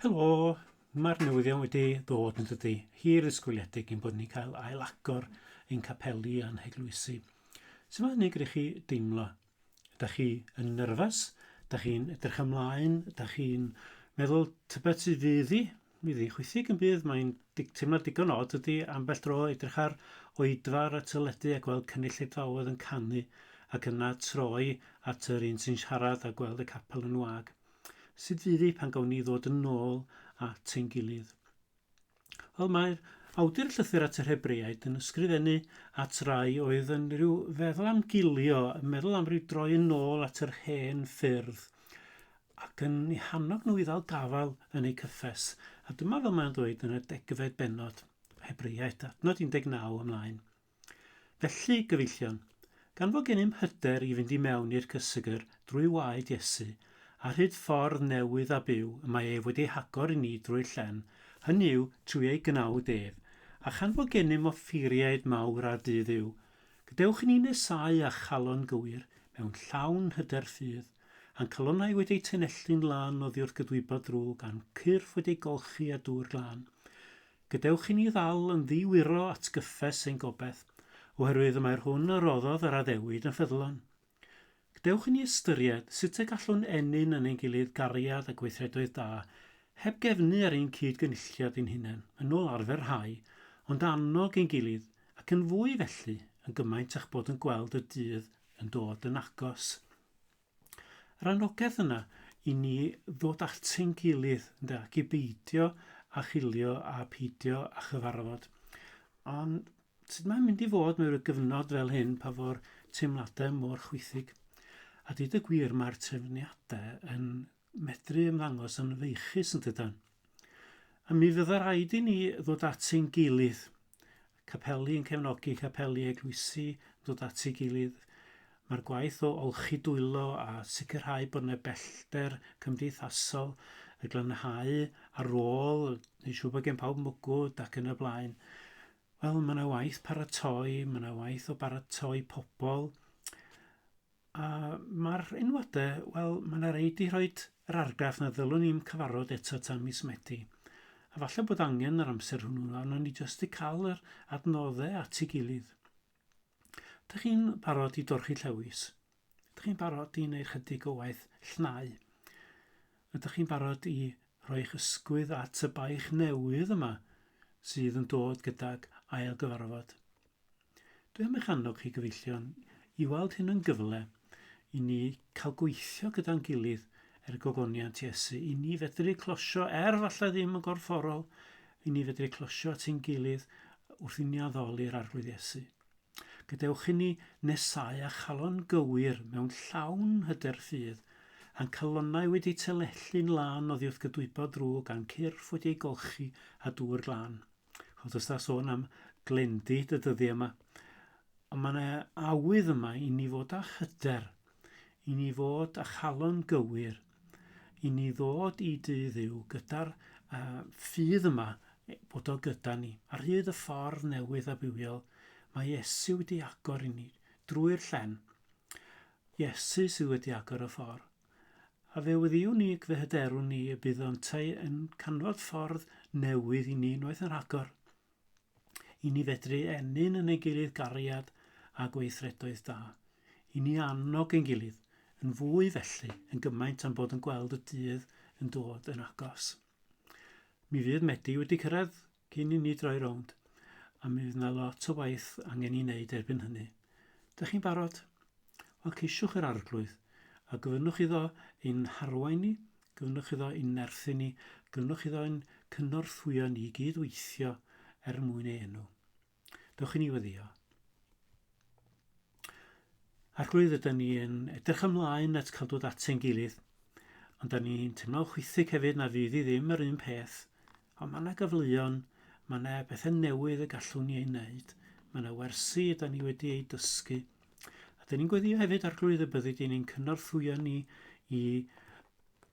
Helo, mae'r newyddion wedi dod yn dydy hir ysgoliedig i'n bod ni'n cael ail agor ein capeli a'n heglwysi. Sut mae hynny gyda chi deimlo? Da chi yn nyrfas? Da chi'n edrych ymlaen? Da chi'n meddwl tybed sydd fydd i? Mi ddichwythig yn bydd, mae'n teimlad digon od dydy, ambell dro edrych ar oedfa'r y teledu a gweld cynulleidfaoedd yn canu ac yna troi at yr un sy'n siarad a gweld y capel yn wag. Sut fydd hi pan gawn ni ddod yn ôl at ein gilydd? Wel, mae'r awdur llythyr at yr Hebreaid yn ysgrifennu at rai oedd yn rhyw feddwl am gilio, yn meddwl am ryw droi yn ôl at yr hen ffyrdd. ac yn eu hannog nhw i ddal gafael yn eu cyffes, a dyma fel mae'n dweud yn y degfed bennod, Hebreaid, adnod 19 ymlaen. Felly, gyfeillion, gan fod gennym hyder i fynd i mewn i'r cysegr drwy waed Iesu, a rhyd ffordd newydd a byw y mae ef wedi ei hagor i ni drwy'r llen, hynny yw, trwy ei gnawd ef, a chan fod gennym offeiriaid mawr ar du Dduw, gadewch i ni nesáu â chalon gywir, mewn llawn hyder ffydd. A'n calonnau wedi eu tanelli'n lân oddi wrth gydwybod ddrwg, a'n cyrff wedi eu golchi â dŵr glân. Gadewch i ni ddal yn ddi-wiro atgyffes ein gobaith, oherwydd y mae'r hwn a roddodd yr addewid yn ffyddlon. Gdewch i ni ystyried sut y gallwn ennyn yn ein gilydd gariad a gweithredoedd da, heb gefnu ar ein cyd-gynulliad ein hunain, yn ôl arfer rhai, ond annog ein gilydd, ac yn fwy felly, yn gymaint â'ch bod yn gweld y dydd yn dod yn agos. Yr annogaeth yna i ni ddod ati'n gilydd, ynde, ac i beidio a chilio a peidio a chyfarfod. Ond sut mae'n mynd i fod mewn gyfnod fel hyn pa fo'r teimladau mor chwythig? A dweud y gwir, mae'r trefniadau yn medru ymddangos yn feichus yn dydan? A mi fydda raid i ni ddod at ein gilydd, capeli yn cefnogi capeli eglwysi, dod at ei gilydd. Mae'r gwaith o olchi dwylo a sicrhau bod yna bellter cymdeithasol y glanhau ar ôl, neu siw bod gen pawb mwgwd ac yn y blaen. Wel, mae yna waith paratoi, mae yna waith o baratoi pobl, A ma'r enwau de, wel ma' 'na rei 'di rhoid yr argraff na ddylwn i'm cyfarfod eto tan mis Medi. A falle bod angen yr amser hwnnw a wnawn ni jyst 'di cael yr adnoddau at ei gilydd. Dych chi'n barod i dorchi llewis? Ydych chi'n barod i wneud chydig o waith llnau? Ydych chi'n barod i rhoi'ch ysgwydd at y baich newydd yma sydd yn dod gydag ail gyfarfod? Dwi am eich annog chi gyfeillion i weld hyn yn gyfle i ni cael gweithio gyda'n gilydd er gogoniant Iesu, i ni fedru closio, er falle ddim yn gorfforol, i ni fedru closio at ein gilydd wrth i ni addoli'r Arglwydd Iesu. Gadewch i ni nesau a chalon gywir mewn llawn hyder ffydd, a'n calonnau wedi telellu'n lân oddiwrth gydwybod drwg a'n cyrff wedi ei golchi â dŵr glân. Ond os da sôn am glendi dy dyddi yma, ond mae yna awydd yma i ni fod â hyder, i ni fod â chalon gywir, i ni ddod i dy ddiw gyda'r uh, ffydd yma e, bod o gyda ni. Ar hyd y ffordd newydd a bywiol, mae Iesu wedi agor i ni drwy'r llen. Iesu sydd wedi agor y ffordd. A fe wyddiwn ni ac fe hyderwn ni y bydd yntau yn canfod ffordd newydd i ni unwaith yn rhagor, i ni fedru ennyn yn ei gilydd gariad a gweithredoedd da, i ni annog ein gilydd yn fwy felly yn gymaint am bod yn gweld y dydd yn dod yn agos. Mi fydd Medi wedi cyrraedd Cyn i ni droi rownd, a mi fydd yna lot o waith angen i wneud erbyn hynny. Dych chi'n barod? Wel, ceisiwch yr arglwydd, a gofynnwch iddo ein harwain ni, gofynnwch iddo ein nerthu ni, gofynnwch iddo ein cynorthwyo ni i gyd-weithio er mwyn ei enw. Dewch i ni weddio. Arglwydd, ydyn ni yn edrych ymlaen at cael dod atyn gilydd, ond da ni'n teimlo'n chwythig hefyd na fydd i ddim yr un peth, ond mae yna gyfleon, mae yna bethau newydd y gallwn ni ei wneud, mae yna wersi da ni wedi ei dysgu, a da ni'n gweddio hefyd, Arglwydd, y byddi di'n ein cynorthwyo ni i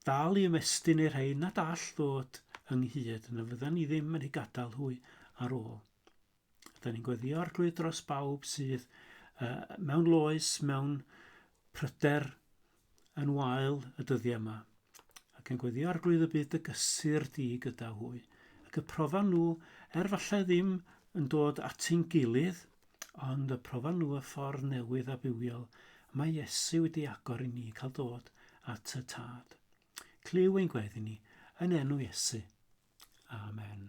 dal i ymestyn i'r rhai nad all ddod ynghyd, na fyddan ni ddim yn eu gadael hwy ar ôl. Rydyn ni'n gweddio arglwydd dros bawb sydd uh, mewn loes, mewn pryder yn wael y dyddiau yma, ac yn gweddio arglwydd y byd y gysur di gyda hwy, ac y profan nhw, er falle ddim yn dod at ein gilydd, Ond y profan nhw y ffordd newydd a bywiol mae Iesu wedi agor i ni cael dod at y Tad. Clyw ein gweddi ni, yn enw Iesu. Amen.